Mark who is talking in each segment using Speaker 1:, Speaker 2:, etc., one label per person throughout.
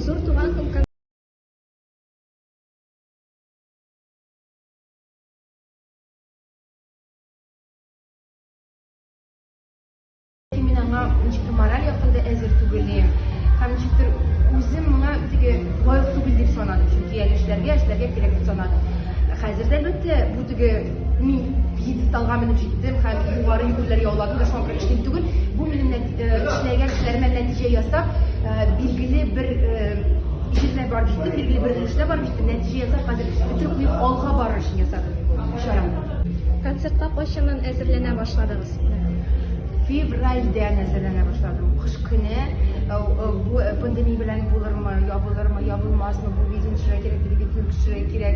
Speaker 1: Зур
Speaker 2: туган көн мораль яктан да әзер түгел һәм ничектер үзем моңа теге лаек түгел дип санадым чөнки әле эшләргә эшләргә кирәк дип санадым хәзер дә әлбәттә бу теге Мин пьедесталга менеп җиттем һәм югары юллар яулады да шуңа күрә кечкенә түгел. Бу минем эшләгән эшләремә нәтиҗә ясап, билгеле бер җирдә барып җиттем, билгеле бер өлештә барып җиттем. Нәтиҗә ясап, хәзер бөтен күңел алга барыр өчен ясадым бу чараны. Концертка
Speaker 1: кайчаннан әзерләнә башладыгыз?
Speaker 2: Февральдән әзерләнә башладым. Кыш көне бу пандемия белән булырмы, ябылырмы, ябылмасмы, бу видео төшерә кирәк, телевидение төшерә кирәк.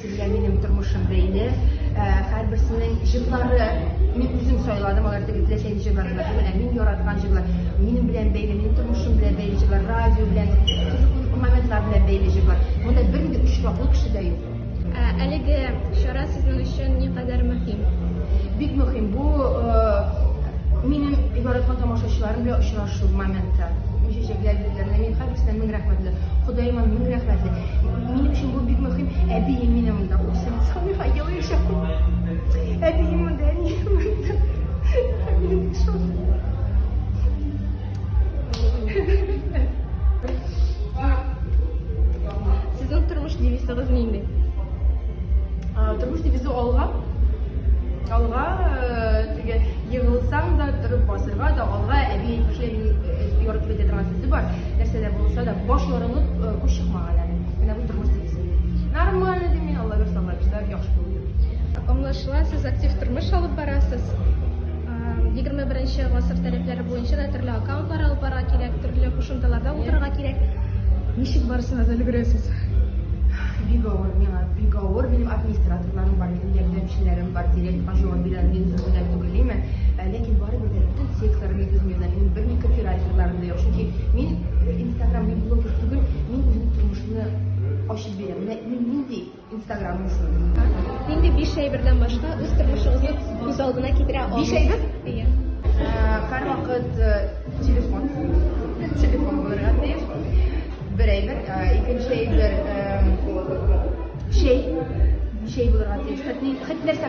Speaker 2: Сезгә минем тормышым бәйле. Ә, Һәрберсенең җырлары мин үзем сайладым, алар теге теләсәйне җырлар гына түгел, ә мин яраткан җырлар. Минем белән бәйле, минем тормышым белән бәйле җырлар, радио белән, кызыклы моментлар белән бәйле җырлар. Монда бер дә өч таклы кеше дә юк. Ә, Әлеге
Speaker 1: чара сезнең өчен никадәр мөһим? Бик мөһим.
Speaker 2: Бу э, минем яраткан тамашачыларым белән очрашу моменты. Мин чәчәкләр биргәннәр, мин һәрберсенә мең рәхмәтле. Ходаема мең рәхмәтле. Минем өчен бу бик мөһим. Әбием мине монда үсен. Салиха ел яшәп. Әбием монда, әнием монда. Минем шул.
Speaker 1: Сезнең тормыш девизыгыз нинди?
Speaker 2: А, Тормыш девизы алга. Алга э, теге егылсаң да, торып басырга да алга әби әйтмешли, ярдәм итә торган сүзе бар. Нәрсә дә булса да Баш ярылып, күз чыкмаган әле. Менә бу тормыш дигезен. Нормально дим мин, Алла бирсә, Алла бирсә, яхшы булыр. Аңлашыла,
Speaker 1: сез актив тормыш алып барасыз. 21 гасыр таләпләре буенча да төрле аккаунтлар алып барырга кирәк, төрле кушымталарда утырырга кирәк. Ничек барысына да өлгерәсез?
Speaker 2: Бик авыр миңа, бик авыр. Минем администраторларым бар, минем ярдәмчеләрем бар, директорга җавап бирәм, мин зөһрәләр түгелме? Ләкин барыбер дә бөтен текстларны мин үзем язам. Мин бер микрофиральтерларны Чөнки мин Instagram мин блогер түгел, мин үзем тормышны ачып бирәм. Менә мин нинди Instagram шул. Нинди биш
Speaker 1: әйбердән башка үз тормышыгызны күз алдына китерә аласыз? Биш әйбер? Иә. Һәр
Speaker 2: вакыт телефон, телефон булырга тиеш. Бер әйбер, икенче әйбер, чәй, чәй булырга тиеш. Хәтта нәрсә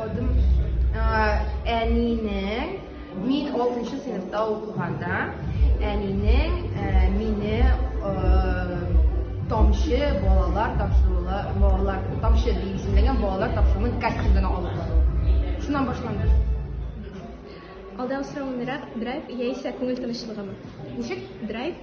Speaker 2: Адым әнинең мин 6 сыйныфта укыганда әнинең мине тамчы балалар тапшыруы балалар тамчы дип исемләгән балалар тапшыруының кастингына алып бару. Шуннан башланды.
Speaker 1: Алда сорау драйв яисә күңел тынычлыгымы? Ничек?
Speaker 2: Драйв